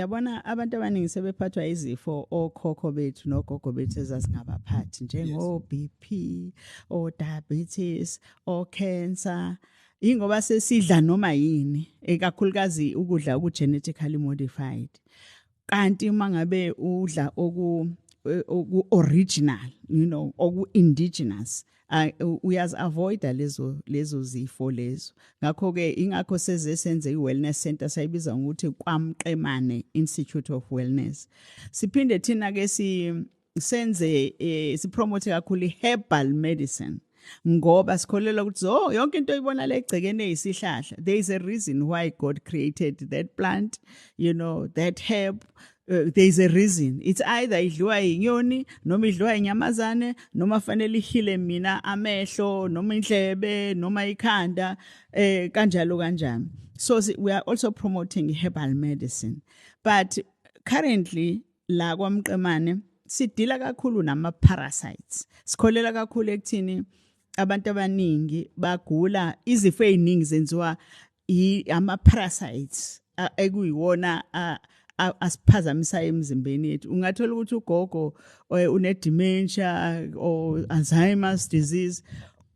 yabona abantu abaningi sebephathwa izifo okhokho bethu nogogo bethu ezasingabaphathi njengo BP o diabetes o cancer ingoba sesidla noma yini ekakhulukazi ukudla oku genetically modified kanti uma ngabe udla oku oku original you know oku indigenous uyazi avoida lezo lezo zifo lezo ngakho ke ingakho seze senze iwellness center sayibiza ngokuthi kwamqemane institute of wellness siphinde thina ke si senze eh, sipromote kakhulu herbal medicine ngoba sikholelwa ukuthi zo oh, yonke into oyibona le egcekeni eyisihlahla there is a reason why god created that plant you know that herb Uh, there is a reason it's either idliwa inyoni noma idliwa inyamazane noma fanele ihile mina amehlo noma indlebe noma ikhanda eh kanjalo kanjani so we are also promoting herbal medicine but currently la kwamqemane sidila kakhulu nama parasites sikholela kakhulu ekuthini abantu abaningi bagula izifo eziningi zenziwa ama parasites ekuyiwona asiphazamisayo emzimbeni yethu ungathola ukuthi ugogo eh, une dementia or Alzheimer's disease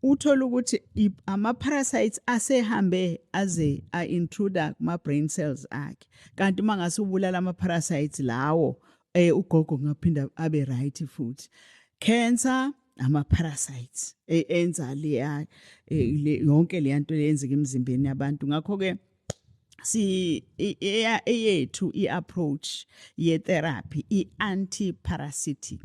uthola ukuthi ama parasites asehambe aze a intruder kuma brain cells akhe kanti mangase ubulala ama parasites lawo eh ugogo ngaphinda abe right futhi cancer ama parasites e, enza leya e, yonke leya nto leyenzeka emzimbeni yabantu ngakho ke si eyethu i approach ye therapy i anti parasitic